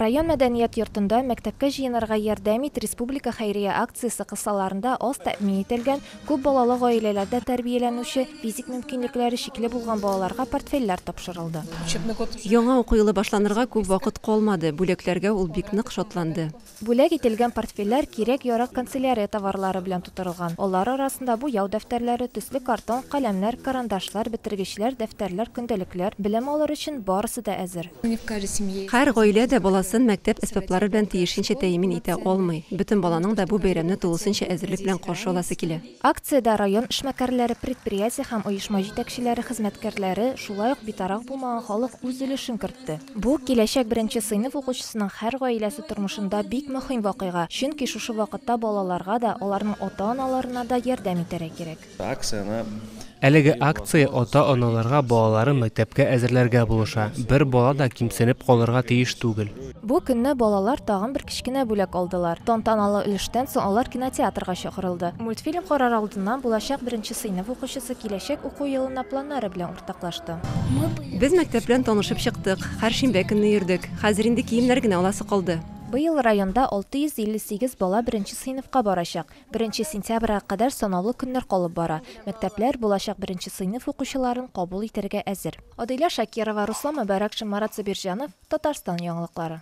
Район мәдәният йортында Мәктәпкә җыенырга ярдәм ит! республика хәйрия акциясе кысаларында аз тәэмин ителгән, күп балалы гаиләләрдә тәрбияләнүче, физик мөмкинлекләре чикле булган балаларга портфельләр тапшырылды. Яңа уку елы башланырга күп вакыт калмады, бүләкләргә ул бик нык шатланды. Бүләк ителгән портфельләр кирәк-ярак канцелярия товарлары белән тутырылган. Алар арасында буяу дәфтәрләре, төсле картон, каләмнәр, карандашлар, бетергечләр, дәфтәрләр, көндәлекләр, белем алыр өчен барысы да әзер. Һәр гаилә дә баласын мәктәп әсбаплары белән тиешенчә тәэмин итә алмый. Бөтен баланың да бу бәйрәмне тулысынча әзерлек белән каршы аласы килә. Акциядә район эшмәкәрләре, предприятие һәм оешма җитәкчеләре, хезмәткәрләре, шулай ук битараф булмаган халык үз өлешен кертте. Бу, киләчәк беренче сыйныф укучысының һәр гаиләсе тормышында бик мөһим вакыйга, чөнки шушы вакытта балаларга да, аларның ата-аналарына да ярдәм итәргә кирәк. Акцияне Әлеге акция ата-аналарга балаларын мәктәпкә әзерләргә булыша. Бер бала да кимсенеп калырга тиеш түгел. Бу көнне балалар тагын бер кечкенә бүләк алдылар. Тантаналы өлештән соң алар кинотеатрга чакырылды. Мультфильм карар алдыннан булачак беренче сыйныф укучысы киләчәк уку елына планнары белән уртаклашты. Без мәктәп белән танышып чыктык. Һәр шимбә көнне йөрдек. Хәзер инде киемнәр генә аласы калды. Быел районда 658 бала беренче сыйныфка барачак. Беренче сентябрьгә кадәр санаулы көннәр калып бара. Мәктәпләр булачак беренче сыйныф укучыларын кабул итәргә әзер. Адилә Шакирова, Руслан Мөбарәкшин, Марат Сабирҗанов, Татарстан яңалыклары.